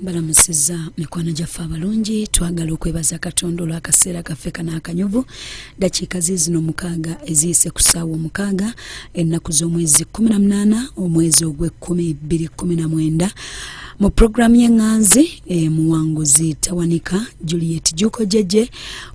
balamusiza mikwano gyaffe abalungi twagala okwebaza katonda olwakaseera kaffe kana akanyuvu dakiika ziizino mukaaga eziyise ku saawa omukaaga ennaku z'omwezi 18 omwezi ogw'ekkumi 219 mu pulogulaamu y'eŋŋanzi emuwanguzi tawanika juliet juko jeje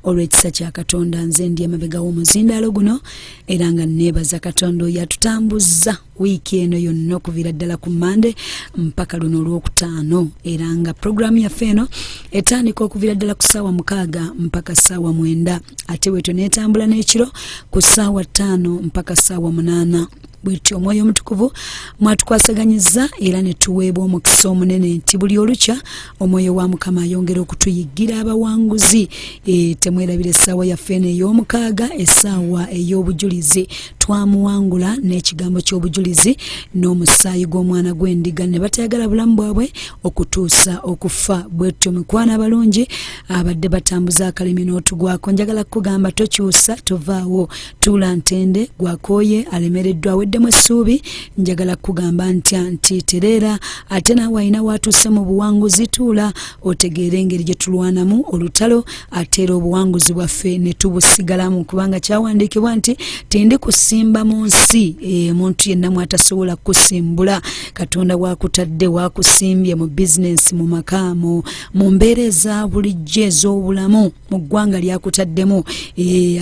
olw'ekisa kya katonda nze ndi emabega w'omuzindaalo guno era nga neebaza katonda oyo atutambuzza wiiki eno yonna okuviira ddala ku mande mpaka luno olwokutaano era nga puroguraamu yaffe eno etandika okuviira ddala ku ssaawa mukaaga mpaka ssaawa mwenda ate bwetyo neetambula n'ekiro ku ssaawa ttaano mpaka ssaawa munaana bwetyo omwoyo omutukuvu mwatukwasaganyizza era netuweebwa omukisa omunene nti buli olukya omwoyo wa mukama ayongera okutuyiggira abawanguzi e, temwerabira essaawa yaffe eno ey'omukaaga essaawa ey'obujulizi twamuwangula n'ekigambo ky'obujulizi n'omusaayi gw'omwana gw'endiga ne batayagala bulamu bwabwe okutuusa okufa bwetyo mikwana abalungi abadde batambuza akalimi n'otugwako njagala kukugamba tokyusa tovaawo tuula ntende gwakooye alemereddwa weddemu essuubi njagala kukugamba ntya nti tereera ate naawe alina waatuuse mu buwanguzi tuula otegeere engeri gye tulwanamu olutalo ate era obuwanguzi bwaffe ne tubusigalamu kubanga kyawandiikibwa nti tindi kusimba mu nsi e, muntu yenna mwatasobola kusimbula katonda wakutadde wakusimbye mu bizinensi mu maka mu mbeera eza bulijjo ez'obulamu mu ggwanga lyakutaddemu e,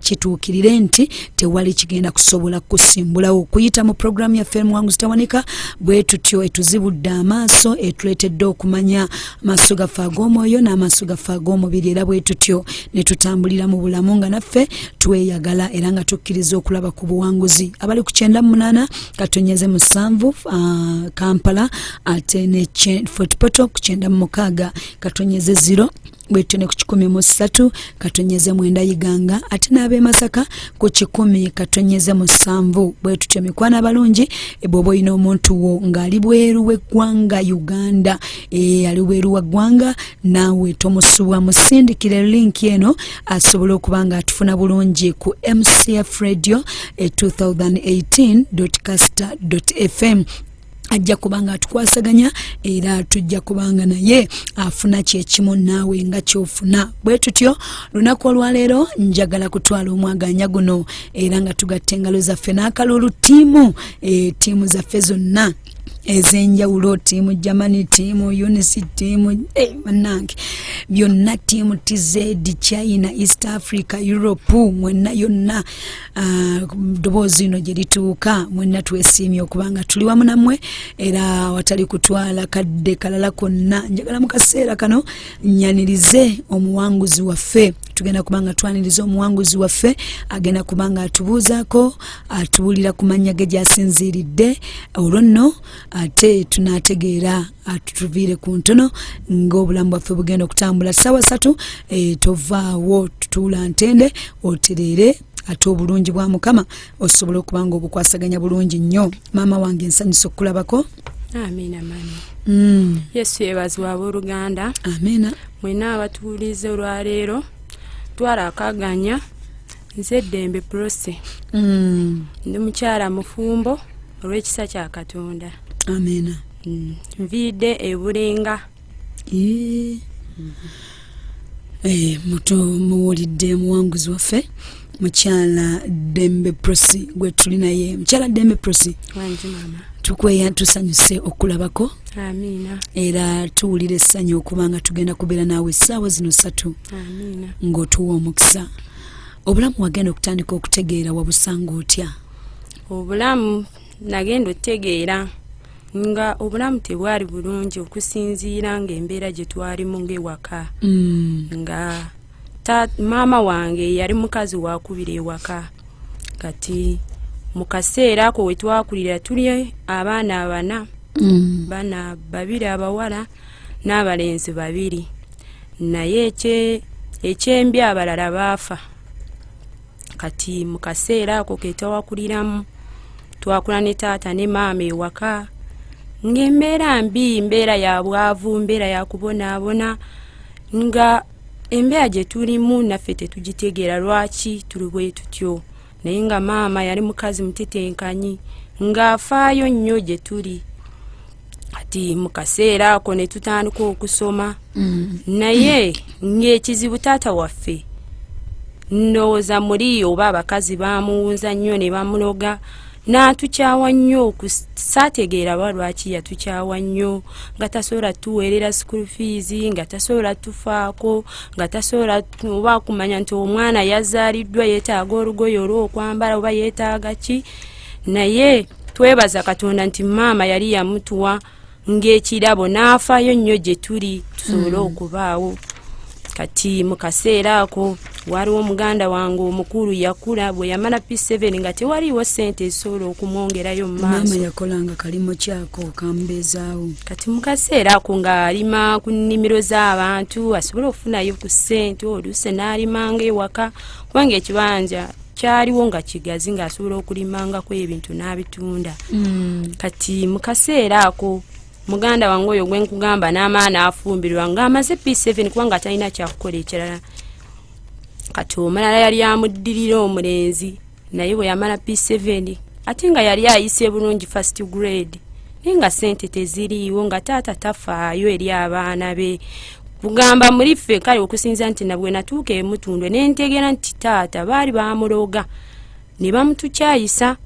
kituukirire nti tewali kigenda kusobola kusimbulawo okuyita mu programu yaffe muwanguzi tawanika bwe tutyo etuzibudde amaaso etuleetedde okumanya amaaso gaffe ag'omwoyo n'amaaso gaffe ag'omubiri era bwe tutyo ne tutambulira mu bulamu nga naffe tweyagala era nga tukkiriza okulaba ku buwanguzi abali ku kyenda mu munaana katonyeze musanvu uh, kampala ate ne fortpoto ku kyenda mu mukaaga katonyeze ziro bwetyo ne ku kikumi mu ssatu katonyeze mwenda yiganga ate n'ab'e masaka ku kikumi katonyeze musanvu bwe tutyo mikwano abalungi bw'oba olina omuntu wo ng'ali bweru w'eggwanga uganda e, ali bweru wa ggwanga naawe tomusubwa musindikire linki eno asobole okuba nga atufuna bulungi ku mcf radio e, 2018 caster fm ajja kuba nga atukwasaganya era tujja kuba nga naye afuna kyekimu naawe nga kyofuna bwe tutyo lunaku olwaleero njagala kutwala omwaganya guno era nga tugatta engalo zaffe n'akalulu tiimu e, tiimu zaffe zonna ez'enjawulo tiimu germany tiimu unis tiimu eh, banange byonna tiimu tz china east africa europe mwenna yonna ah, ddoboozi ino gye lituuka mwenna twesiimye okubanga tuli wamu namwe era watali kutwala kadde kalala konna njagala mu kaseera kano nyanirize omuwanguzi waffe tugenda kubanga twaniriza omuwanguzi waffe agenda kubanga atubuuzaako atubuulira ku mannya ge gyasinziiridde olwo nno ate tunategeera atutuviire ku ntono ng'obulamu bwaffe bugenda okutambula ssaawa satu eh, tovaawo tutuula ntende otereere ate obulungi bwa mukama osobola okuba nga obukwasaganya bulungi nnyo maama wange nsanyusa okukulabako amiina mama mm. yesu yebazi wa booluganda amiina mwena abatuwuliza olwaleero twala akaganya nze eddembe prose mm. ndi mukyala mufumbo olw'ekisa kya katonda amiina mm. nviidde ebulenga Eh, eh, muto muwulidde muwanguzi waffe mukyala dembe prosi gwe tuli naye mukyala dembe prosi tukweya tusanyuse okulabako era tuwulira essanyu okuba nga tugenda kubeera naawe essaawa zino satu ng'otuwa omukisa obulamu wagenda okutandika okutegeera wabusanga otya obulamu nagenda otegeera nga obulamu tebwali bulungi okusinziira nga embeera gye twalimu ngaewaka mm. nga maama wange yali mukazi wakubira ewaka kati mu kaseera ako we twakulira tuli abaana abana mm. bana babiri abawala n'abalenzi babiri naye ekyembi abalala baafa kati mu kaseera ako ketawakuliramu twakula ne taata ne maama ewaka ngaembeera mbi mbeera ya bwavu mbeera ya kubonaabona nga embeera gye tulimu naffe tetugitegeera lwaki tuli bwe tutyo naye nga maama yali mukazi mutetenkanyi ng'afaayo nnyo gye tuli kati mu kaseera ako ne tutandika okusoma mm. naye ng'ekizibu taata waffe ndowooza muli oba abakazi bamuwunza nnyo ne bamuloga n'atukyawa nnyo saategeera ba lwaki yatukyawa nnyo nga tasobola tuweerera school fees nga tasobola tufaako nga tasobola oba kumanya nti omwana yazaaliddwa yeetaaga olugoye olw'okwambala oba yeetaaga ki naye twebaza katonda nti maama yali yamutuwa ng'ekirabo n'afaayo nnyo gye tuli tusobole hmm. okubaawo kati mu kaseera ako waliwo muganda wange omukulu yakula bwe yamala p7 nga tewaliiwo sente ezisobola okumwongerayo mumaasoyakolanga kalimu kyako okambeezaawo kati mu kaseera ako ng'alima ku nnimiro z'abantu asobole okufunayo ku sente oluuse n'alimanga ewaka kubanga ekibanja kyaliwo nga kigazi ng'asobola okulimangako ebintu n'abitunda mm. kati mu kaseera ako muganda wange oyo gwenkugamba n'amaana afumbirwa ng'amaze p7 kubanga atalina kyakukola ekirala kati omulala yali amuddirira omulenzi naye bwe yamala p7 ate nga yali ayise bulungi first grade naye nga sente teziriiwo nga taata tafaayo eri abaana be kugamba muli ffe kale okusinza nti nabwe natuuka emutundwe nentegera nti taata baali bamuloga ne bamutukyayisa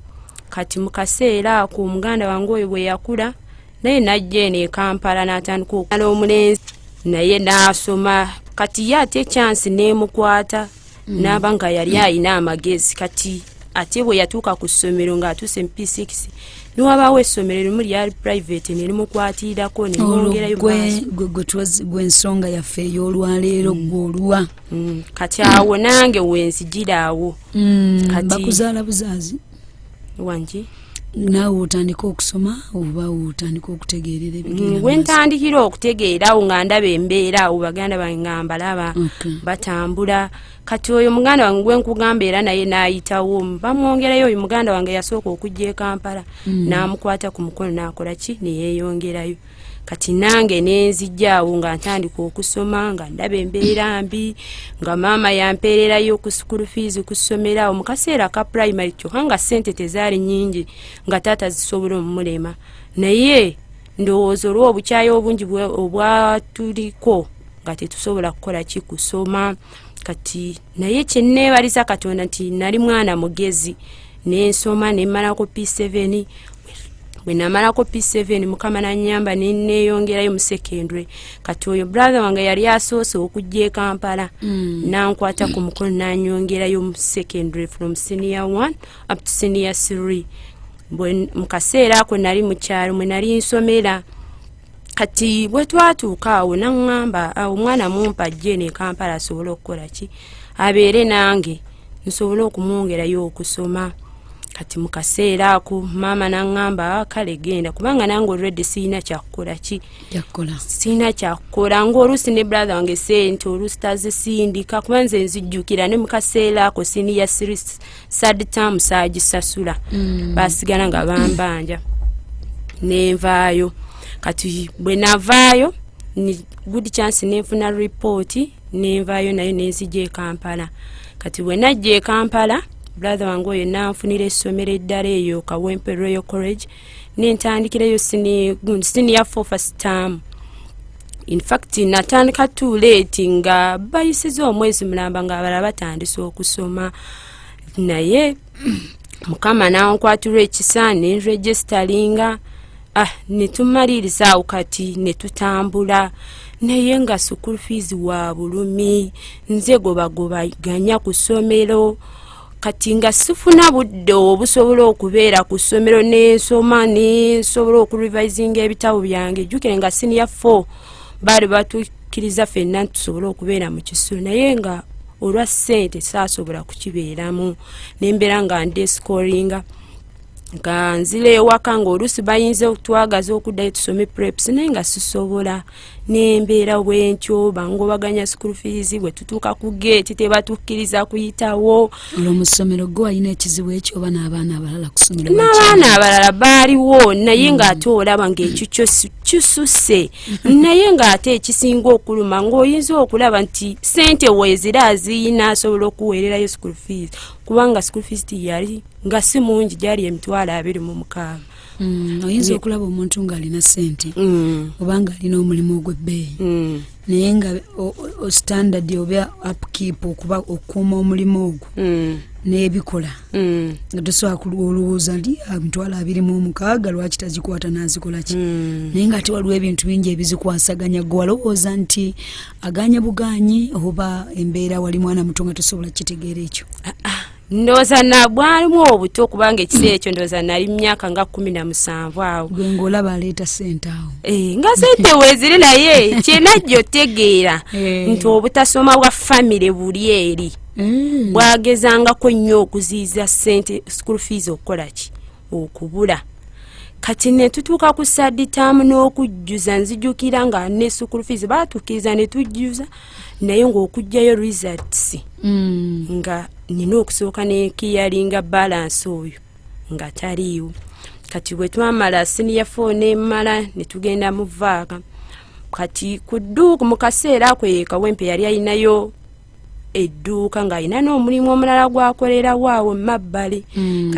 kati mu kaseera ako omuganda wange oyo bwe yakula naye najja eno ekampala natandika okumala omulenzi naye naasoma kati ye ate ekyansi nemukwata mm. naaba nga yali mm. alina amagezi kati ate bwe yatuuka ku ssomero ng'atuuse mu p6 niwabaawo essomero erimu lyali private nerimukwatirirako nerimuongerayogwensonga yaffe ey'olwaleero mm. gwolwa kati awo nange wenzijira awo bakuzaala buzaazi wangi naawe otandika okusoma oba otandika okutegeerera mm, wentandikira okutegeera awo nga ndaba embeera awo baganda bange nga mbalaba batambula kati oyo muganda wange gwenkugamba era naye nayitawo bamwongerayo oyo muganda wange yasooka okujja ekampala mm. namukwata ku mukono nakola ki neyeyongerayo kati nange nenzijaawo nga ntandika okusoma nga ndaba embeera mbi nga maama yampeererayo ku sukulu fees ku ssomero awo mu kaseera ka primary kyokka nga ssente tezaali nyingi nga taata zisobola omumulema naye ndowooza olw obukyayi obungi obwatuliko nga tetusobola kukola ki kusoma kati naye kyenneebaliza katonda nti nali mwana mugezi nensoma nemalako p7 bwenamalako p7 mukama nanyamba neneyongerayo musekendre kati oyo brother wange yali asoose okujja ekampala mm. nankwata ku mukono nanyongerayo musekendre from senior 1 up to senior 3 mukaseera ako nali mukyalo mwenali nsomera kati bwetwatuuka awo naŋŋamba awo omwana mumpa ajje nekampala asobole okukola ki abeere nange nsobole okumwongerayo okusoma kati mukaseera ako maama naŋŋamba ah, kale genda kubanga nange olwedde sirina kyakukola ki sirina kyakukola ngaoluusi ne brother wange sente oluusi tazisindika kuba nze nzijjukira ne mukaseera ako siniya sad term saagisasula mm. basigala nga bambanja nenvaayo kati bwe navaayo good chance nenfuna ripooti nenvaayo nayo nenzija ekampala kati bwe najja ekampala brother wange oyo nanfunira essomero eddala eyo kawempe royal college nentandikirayo siniya fofasitaamu infact natandika too late nga bayisiza omwezi mulamba nga abala batandisa okusoma naye mukama nankwatirwa ekisa nenregisteringa ah netumaliriza awo kati netutambula naye nga sukulu fees wa bulumi nze gobagobaganya ku ssomero kati nga sifuna budde obusobola okubeera ku ssomero nensoma nensobola okurevisinga ebitabo byange jjukire nga siniya fo baali batukkiriza fenna ntusobole okubeera mu kisulo naye nga olwa ssente saasobola kukibeeramu nembeera nga ndescoringa nga nzira ewaka ngaoluusi bayinza okutwagaza okuddayo tusome preps naye nga sisobola n'embeera bwentyo bangobaganya school fees bwe tutuuka ku geeti tebatukkiriza kuyitawo olwo mu ssomero gwe walina ekizibu ekyo oba n'abaana abalala kusomero n'abaana abalala baaliwo naye mm. ng'ate olaba ng'ekyo kyo kisusse naye ng'ate ekisinga okuluma ng'oyinza okulaba nti sente weezira aziyina asobola okuweererayo school fees kubanga school fees tiyali nga si mungi gyali emitwalo abiri mu mukaaga Mm, oyinza okulaba omuntu ng'alina ssente mm. oba ng'alina omulimu ogw'ebbeeyi mm. naye nga standard oba upkeep okuba okukuuma omulimu ogwo n'ebikola nga tosobola kulwa olowooza li amitwalo ah, abiri mu omukaaga lwaki tazikwata n'azikola ki naye nga ate waliwo ebintu bingi ebizikwasaganya gwe walowooza nti aganye buganyi oba embeera wali mwana muto nga tosobola kukitegeera ekyo ah, ah. ndooza nabwalimu obuto kubanga ekiseera ekyo ndooza nali mumyaka nga kumi na musanvu awo gwengaolaba aleeta sente awo eh, nga sente weziri naye kyena jjo tegeera eh. nti obutasoma bwa famire buli eri eh. bwagezangako nnyo okuziiza sente school fees okukolaki okubula kati netutuuka ku saditaamu n'okujjuza nzijukira nga ne sukulu fees baatukkiriza ne tujjuza naye ng'okugjayo results mm. nga nina okusooka nekiyalinga balansi oyo nga taliiwo kati bwe twamala siniya fo nemala ne tugenda mu vaaka kati ku dduuku mu kaseera ako yekawempe yali alinayo edduuka ng'alina n'omulimu omulala gwakolerawo awo mabbali hmm,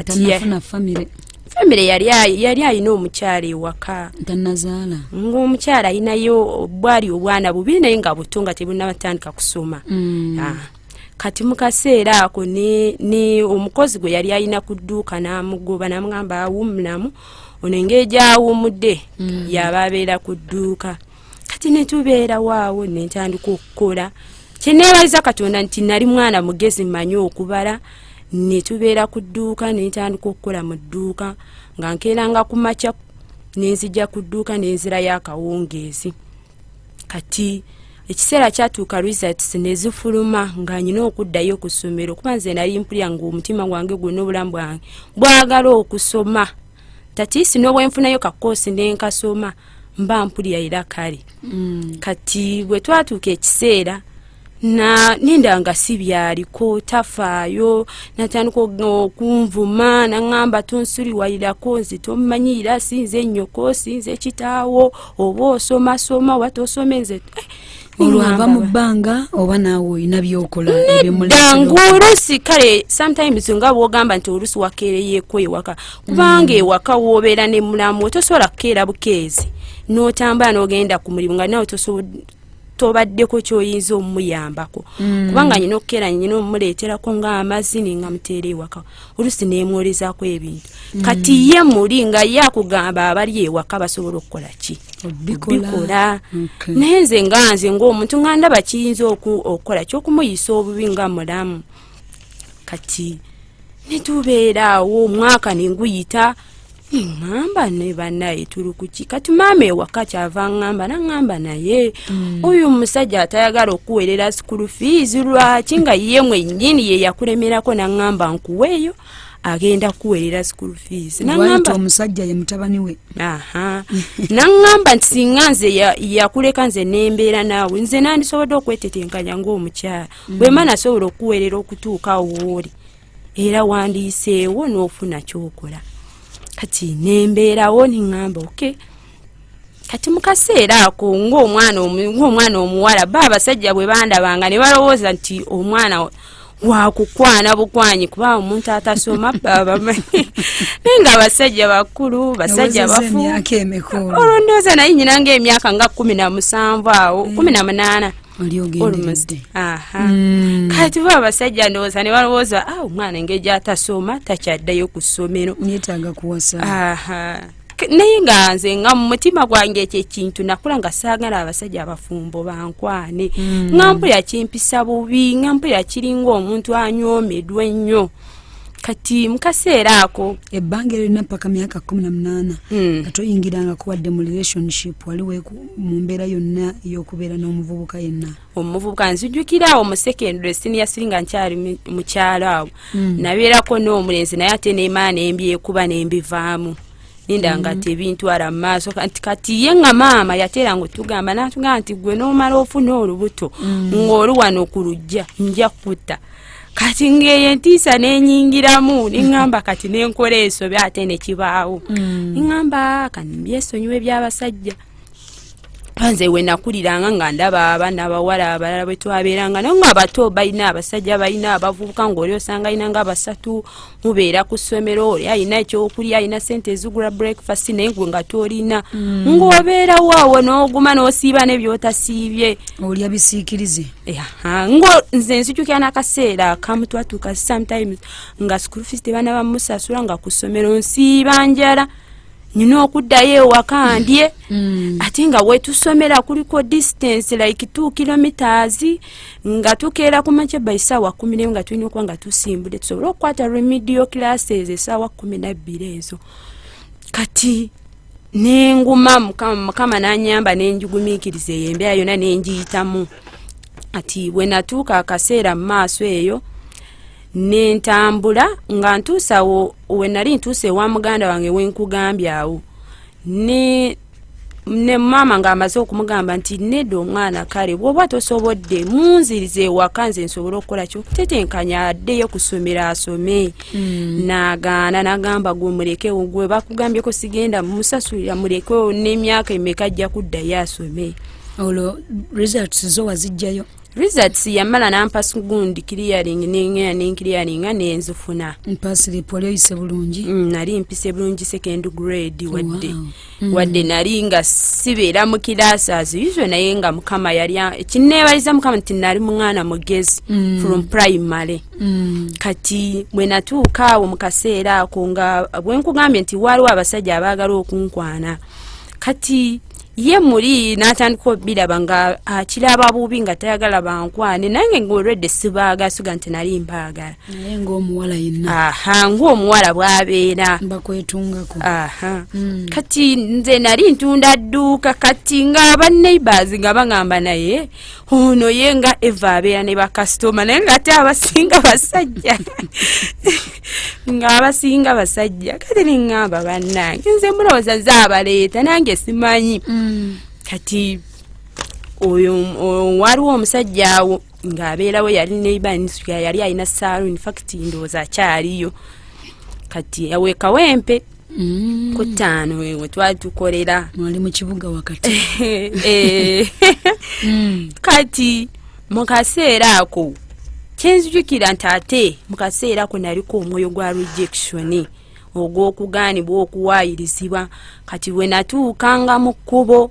famire yali alina omukyala ewaka tanazaala ng'omukyala alinayo bwali obwana bubi naye nga buto nga tebunabatandika kusoma hmm. ah. kati mu kaseera ako ni omukozi gwe yali alina ku dduuka n'amugoba namugamba awumulamu ono engeri gyawumudde mm. yaba abeera ku dduuka kati netubeera waawo nentandika okukola kyeneebaza katonda nti nali mwana mugezi manyi okubala netubeera ku dduuka nentandika okukola mu dduuka nga nkeeranga ku makya nenzija ku dduuka nenzirayo akawungeezi kati ekiseera kyatuuka results nezifuluma nga nyina okuddayo okusomero kuba nze nali mpulya nga omutima gwange gwonna obulamu bwange bwagala okusoma tatiisi n'obwenfunayo kakoosi nenkasoma mba mpulira era kale mm. kati bwe twatuuka ekiseera na ninda nga si byaliko tafaayo natandika okunvuma naŋamba tonsuriwalirako nze tomanyira sinze nyoko sinze kitaawo oba osomasoma oba tosome nze eh, olwava mu bbanga oba naawe olina byokola ebimulngu oluusi kale sometimes nga bwogamba nti oluusi wakeereyeeko ewaka kubanga mm. ewaka woobeera ne mulamu tosobola kukeera bukeezi n'otambula n'ogenda ku mulimu nga nawe tobaddeko kyoyinza omumuyambako mm. kubanga nyina okukeera nyina omumuleeterako nga amazzi ninga muteera ewaka olusi nemwolezaako ebintu mm. kati ye muli nga ye akugamba abali ewaka basobola okukola ki bikola naye nze nga nze ngaomuntu nga ndaba kiyinza okukola kyokumuyisa obubi nga mulamu kati netubeeraawo omwaka nenguyita ngamba ne banaye tuli kuki kati maama ewaka kyava ngamba nangamba naye mm. oyo omusajja atayagala okuwerera sukulu fiizi lwaki nga ye mwenyini ye yakulemerako nangamba nkuweeyo agenda kuwerera school fees nangamba omusajja ye mutabani we aha nangamba nti singa nze yakuleka nze nembeera naawe nze nandisobodde okwetetenkanya ngaomukyala mm. bwema nasobola okuwerera okutuuka wooli era wandiyiseewo n'ofuna kyokola kati nembeerawo neŋamba oke kati mu kaseera ako ngaomwana ngaomwana omuwala ba abasajja bwe bandabanga ne balowooza nti omwana wakukwana bukwanyi kuba omuntu atasoma babamanyi naye nga abasajja bakulu basajja bafu olwondooza naye nyina ngaemyaka nga kumi na musanvu awo kumi na munaana oliogendedde mm. kati bo abasajja ndowooza ne balowooza ah, omwana engeri gyatasoma takyaddayo ku ssomero netaga kuwasa naye nga nze nga mu mutima gwange ekyo ekintu nakula nga saagala abasajja abafumbo bankwane mm. nga mpulira kimpisa bubi nga mpulira kiringa omuntu anyoomedwa ennyo kati mukaseera ako ebbanga erina mpaka myaka kumi na munaana hmm. nga toyingirangako wadde mu relationship wali mu mbeera yonna ey'okubeera n'omuvubuka yenna omuvubuka nzijukira awo mu secondary siniya siri nga nkyali mukyalo awo hmm. nabeerako n'omulenzi naye ate nemaa nembyekuba nembivaamu ninda nga hmm. tebintwala mu maaso nti kati ye nga maama yateera nga otugamba natugamba nti gwe n'omala ofuna olubuto ng'oli wano ku lujja nja kutta kati ngeyo entiisa nenyingiramu neŋamba kati nenkola ensobi ate nekibaawo mm. neŋamba ah, kanbyesonyiwa ebyabasajja nze wenakuliranga nga ndaba abaana abawala abalala bwetwabeeranga naye nga abato balina abasajja balina abavubuka ngaoli osanga alina nga basatu mubeera ku ssomero oli alina ekyokulya alina sente ezigula breakfast naye gwe nga tolina mm. ng'obeera waawo n'oguma n'osiiba nebyotasiibye olya bisiikirize ngo nze nzijukira n'akaseera akamu twatuuka sometimes nga school fees tebaana bamusasula nga ku ssomero nsiiba njala nina okuddayo ewaka ndye mm. ate nga wetusomera kuliko distance like t kilometers nga tukeera ku makya ba esaawa kumi nemu nga tulina okuba nga tusimbudde tusobole okukwata remedio classes esaawa kumi nabbiri ezo kati nenguma mukama nanyamba nenjugumikiriza eyo embeera yona nenjiyitamu ati wenatuuka akaseera mu maaso eyo nentambula nga ntuusawo wenali ntuusa ewa muganda wange wenkugambye awo ne ne maama ng'amaze okumugamba nti nedda omwana kale bwoba tosobodde munziriza ewaka nze nsobole okukola kyo tetenkanya addeyo kusomero asome hmm. nagaana nagamba gwe mulekewo gwe bakugambyeko sigenda musasulira mulekewo n'emyaka emeka ajja kuddayo asome olwo results zo wazijjayo results yamala nampa gundi clearing nengenda nenclearinga nenzifuna mpasilipu wali oyise bulungi mm, nali mpise bulungi second grade wadde wow. mm. wadde nali nga sibeera mu kiraasi aziizo naye nga mukama yali kineebaliza mukama nti nali mwana mugezi mm. from primary mm. kati bwe natuuka awo mu kaseera ako nga bwenkugambye nti waaliwo abasajja abaagala okunkwana kati ye muli natandika obiraba nga akiraba bubi nga tayagala bankwane nange ngaolwedde sibaaga suga nti nali mbaagala naye ngaomuwala yenna aha ngaomuwala bwabeera bakwetungako aha mm. kati nze nali ntunda dduuka kati nga baneighbors nga bangamba naye ono ye nga eva abeera ne bakasitoma naye nga ate abasinga basajja nga abasinga basajja kati neŋŋamba bannange nze mulowooza ze abaleeta nange simanyi mm. kati oyo waliwo omusajja awo ng'abeerawo yali neibanisuya yali alina saalu infact ndowooza akyaliyo kati awekawempe mm. ku ttaano we twali tukolera mwali mu kibuga wakati eh. mm. kati mu kaseera ako kyenzijukira nti ate mu kaseera ako naliko omwoyo gwa rejectioni ogw'okugaanibwa okuwaayirizibwa kati we natuukanga mu kkubo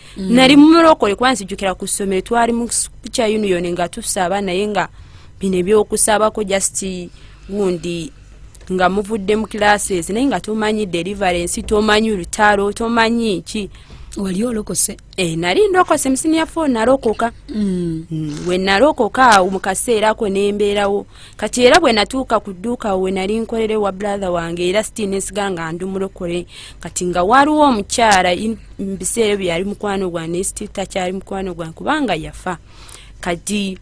mm. nali mumulokole kuba nzijukira ku ssomero twali mu kya union nga tusaba naye nga bino ebyokusabako just gundi nga muvudde mu classes naye nga tomanyi deliverance tomanyi lutalo tomanyi ki wali olokose e, nali ndokose musimu ya fo nalokoka mm. mm. we nalokoka awo mu kaseera ako nembeerawo kati era bwe natuuka ku dduuka we nali nkolere wa brother wange era sitinesigala nga ndi mulokole kati nga waliwo omukyala mubiseera ebyo yali mukwano gwange nesti takyali mukwano gwange kubanga yafa kati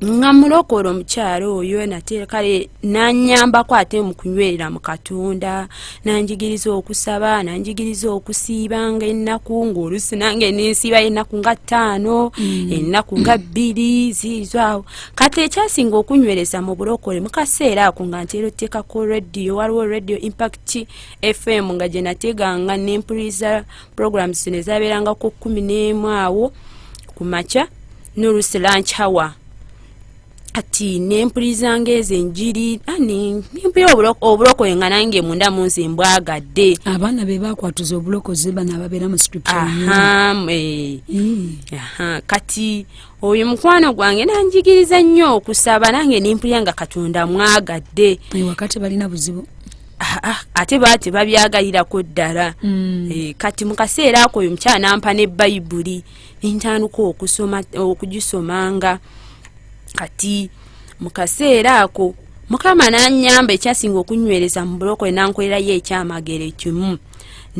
nga mulokola omukyala oyo nate kale nanyambako ate mukunywerera mu katonda nanjigiriza okusaba nanjigiriza okusiiba nga ennaku ngaolusi nange nensiiba ennaku nga ttaano mm. ennaku nga bbiri ziizo awo kati ekyasinga okunywereza mu bulokole mukaseera ako nga ntera oteekako radio waliwo radio impact fm nga gye nateganga nempuliriza program zino ezabeeranga ku kumi n'emu awo ku makya nolusi lunch hour kati nempulirizanga ezo enjiri ani nempulira obulokoye nga nange munda munsi mbwagadde abaana be bakwatuza obulokozi bano ababeera mu eh. hmm. kati oyo mukwano gwange nanjigiriza nnyo okusaba nange nempulira nga katonda mwagadde wakati balina buzibu Ah, ah, ate baa tebabyagalirako ddala hmm. eh, kati mu kaseera ako oyo mukyala nampa ne bayibuli nentandika okusoma okugisomanga kati mu kaseera ako mukama nanyamba ekyasinga okunywereza mu bulokole nankolerayo ekyamagero ekimu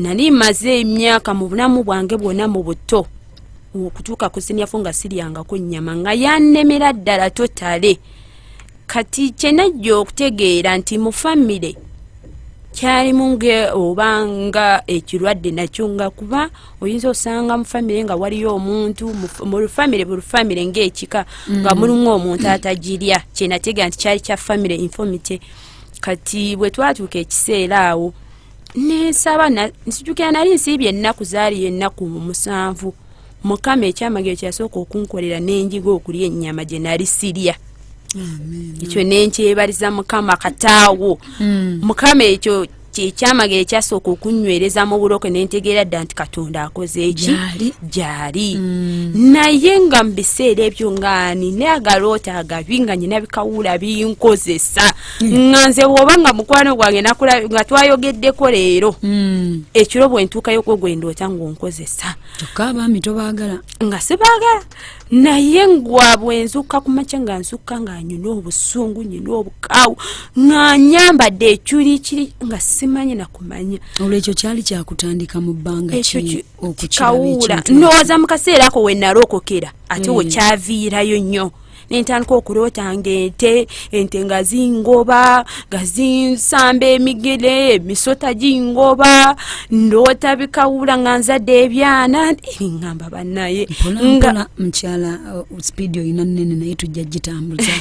nali maze emyaka mu bulamu bwange bwona mu buto okutuuka ku sinyafu nga siryangako nyama nga yanemera ddala totale kati kyenajja okutegeera nti mu famire kyalimu nge oba nga ekirwadde nakyo nga kuba oyinza osanga mu famire nga waliyo omuntu mu famire buli famire ngaekika nga mm. mulimu omuntu atagirya kyenategeera nti kyali kya famire infomity kati bwe twatuuka ekiseera awo nensaba nsijukira nali nsiibye ennaku zaali ennaku musanvu mukama ekyamagero kyeyasooka okunkolera nenjiga okulya ennyama gye nali sirya ekyo nenkyebaliza mukama kataawo hmm. mukama ekyo kyekyamagero ekyasooka okunywereza mu buloke nentegeera dda nti katonda akoze eki gyali hmm. naye nga mu biseera ebyo ngaani ne agaloota agabi nga nyina bikawula binkozesa hmm. nga nze woba nga mukwano gwange nga twayogeddeko leero hmm. ekiro bwentuuka yokwo gwendoota ngaonkozesa kyokka abaami tobaagala nga sibaagala naye ngwabwe nzukka ku makya nga nzukka nga nyina obusungu nyina obukaawu nga nyambadde ekyuli kiri nga simanyi nakumanya olwekyo kyali kyakutandika mu bbanga kikawuula ndowooza mu kaseera ako wenalookokera ate wekyaviirayo nnyo nentandika okuloota nga ente ente nga zingoba nga zinsamba emigere emisota gingoba ndoota bikawula nga nzadde ebyana ngamba banaye nga mukyala uh, sipiidi olina nene naye tujja gitambuza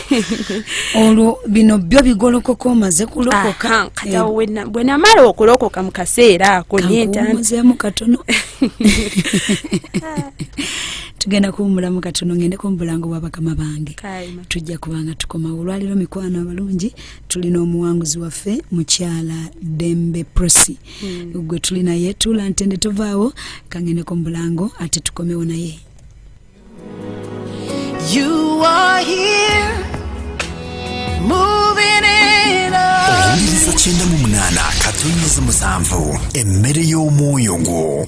olwo bino byo bigolokoka omaze kulokoka kati awo eh. bwe namala okulokoka mu kaseera ako nentandika katono tugenda kuwumulamu katono ngendeko mubulango bwa bakama bange tujja kubanga tukomawo olwaliro mikwano abalungi tulina omuwanguzi waffe mukyala dembe prosi hmm. gwe tuli naye tula ntende tovaawo kangendeko mubulango ate tukomewo naye You are here, moving in us. kyenda mu munaana katonnyezi musanvu emmere y'omwoyo gwo